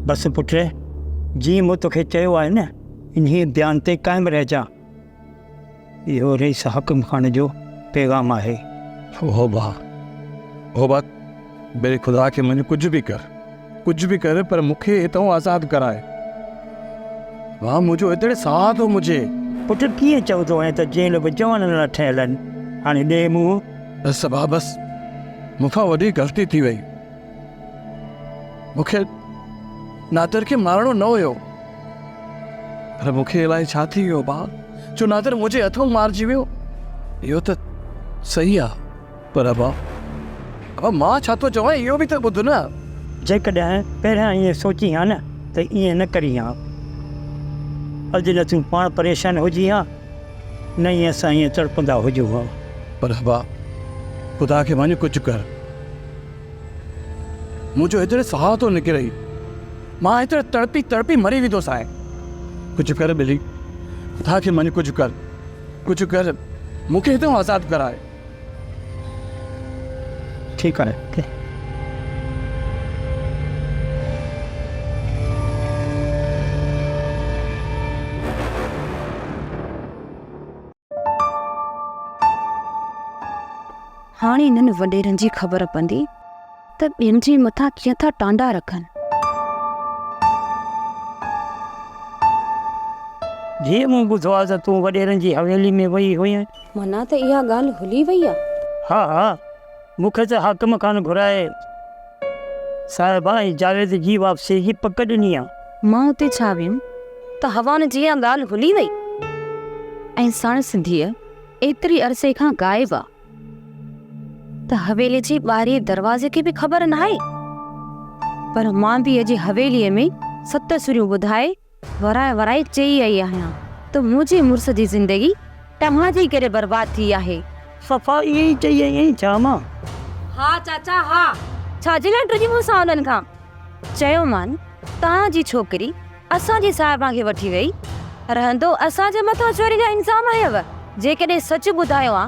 بس پٽ، جيئن مون توکي چيو آهي نه، انهيء بيان تي قائم رهجان. اهو رئيس حاڪم خان جو پيغام آهي. هو ڀاء، هو ڀاء، بيري خدا کي مڃ، ڪجهه به ڪر، ڪجهه به ڪر، پر مون کي هتان آزاد ڪراء. ڀاء، منهنجو هتڙي ساهه ٿو مچي. پٽ، ڪيئن چوندو آهين ته جيل به جوانن لاء ٺهيل آهن. هاڻي ڏي منهن. بس ڀاء، بس. مون کان وڏي غلطي ٿي وئي. مون کي نادر کي مارڻو نه هيو پر مون کي الائي ڇا ٿي ويو ڀاء جو نادر منهنجي هٿون مارجي ويو اهو ته صحيح آ پر ابا ابا مان ڇا ٿو چوان اهو به ته ٻڌ نه جيڪڏهن پهريان ائين سوچين ها نه ته ائين نه ڪرين ها اڄ نه تون پاڻ پريشان هجين ها نه ئي اسان ائين تڙپندا هجون ها. پر ابا خدا کي مڃ ڪجهه ڪر. مون جو هيتري ساهه ٿو نڪري مان هيتري تڙپي تڙپي مري ويندو سائين ڪجهه ڪر ٻلي خدا کي مڃ ڪجهه ڪر ڪجهه ڪر مون کي هتان آزاد ڪرائي ٺيڪ آهي هاڻي انهن وڏيرن جي خبر پوندي ته ٻين جي مٿان ڪيئن ٿا ٽانڊا رکن. ڌيء مون ٻڌو آهي ته تون وڏيرن جي حويلي ۾ وئي هئين. معنيٰ ته اها ڳالهه هلي وئي آهي. ها ها مون کي ته حاڪم خان گهرائي. صاحب ۽ جاويد جي واپسيء جي پڪ ڏني آ. مان اتي ڇا ويم ته هوان جي اها ڳالهه هلي وئي ۽ ساڻس سنڌيء ايتري عرصي کان غائب آ ته حويلي جي ٻاهرئين دروازي کي به خبر ناهي پر مان به اڄ حويليء ۾ ست سريون ٻڌائي ورائي ورائي چئي رهي آهيان ته منهنجي مڙس جي زندگي توهان جي ڪري برباد ٿي آهي. صفا ائين ئي چئي رهي آهين ڇا مان؟ ها چاچا ها. ڇا جي لاء ڊڄي مون سان انهن کان؟ چيومان توهان جي ڇوڪري اسان جي صاحبان کي وٺي ويئي. رهندو اسان جي مٿان چوري جا الزام هنيو. جيڪڏهن سچ ٻڌايو ها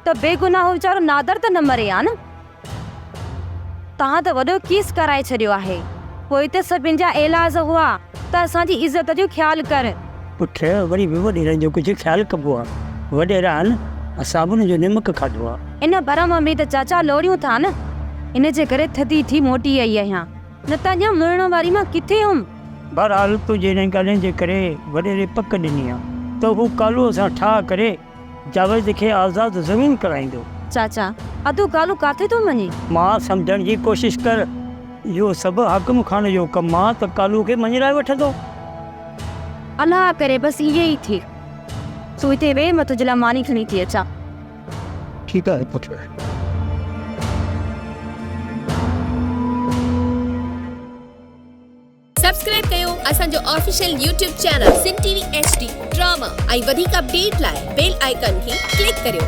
ته بيگناهه ويچارو نادر ته نه مري ها نه؟ توهان ته وڏو ڪيس ڪرائي ڇڏيو آهي. پوء ته سڀن جا ايلاز هئا ته اسان جي عزت جو خيال ڪر. پٺ وري به وڏيرن جو ڪجهه خيال ڪبو آ. وڏيران صابن جو نمڪ کاڌو آ. ان ڀرم ۾ ته چاچا لوڙيون ٿا نه. ان جي ڪري ٿڌي ٿي موٽي آئي آهيان. نه ته اڃا مڙڻ واري مان ڪٿي هئم. بهرحال تنهنجي انهن ڳالهين جي ڪري وڏيري پڪ ڏني آ ته هو ڪالوء سان ٺاهه ڪري. جاويد کي آزاد زمين ڪرائيندو. چاچا! ادو ڳالهون ڪاٿي ٿو مڃين؟ ماء سمجهڻ جي ڪوشش ڪر. اهو سڀ حاڪم خان جو ڪم آ ته ڪالو کي مڃرائي وٺندو. الله ڪري بس ائين ئي ٿئي. تون هتي ويهه مان تنهنجي لاء ماني کڻي ٿي اچان. ٺيڪ آهي پٽ. سبسڪرائب ڪيو اسان جو official YouTube channel Sindh T V H D drama ۽ وڌيڪ اپڊيٽ لاء بيل آئيڪان کي ڪلڪ ڪريو.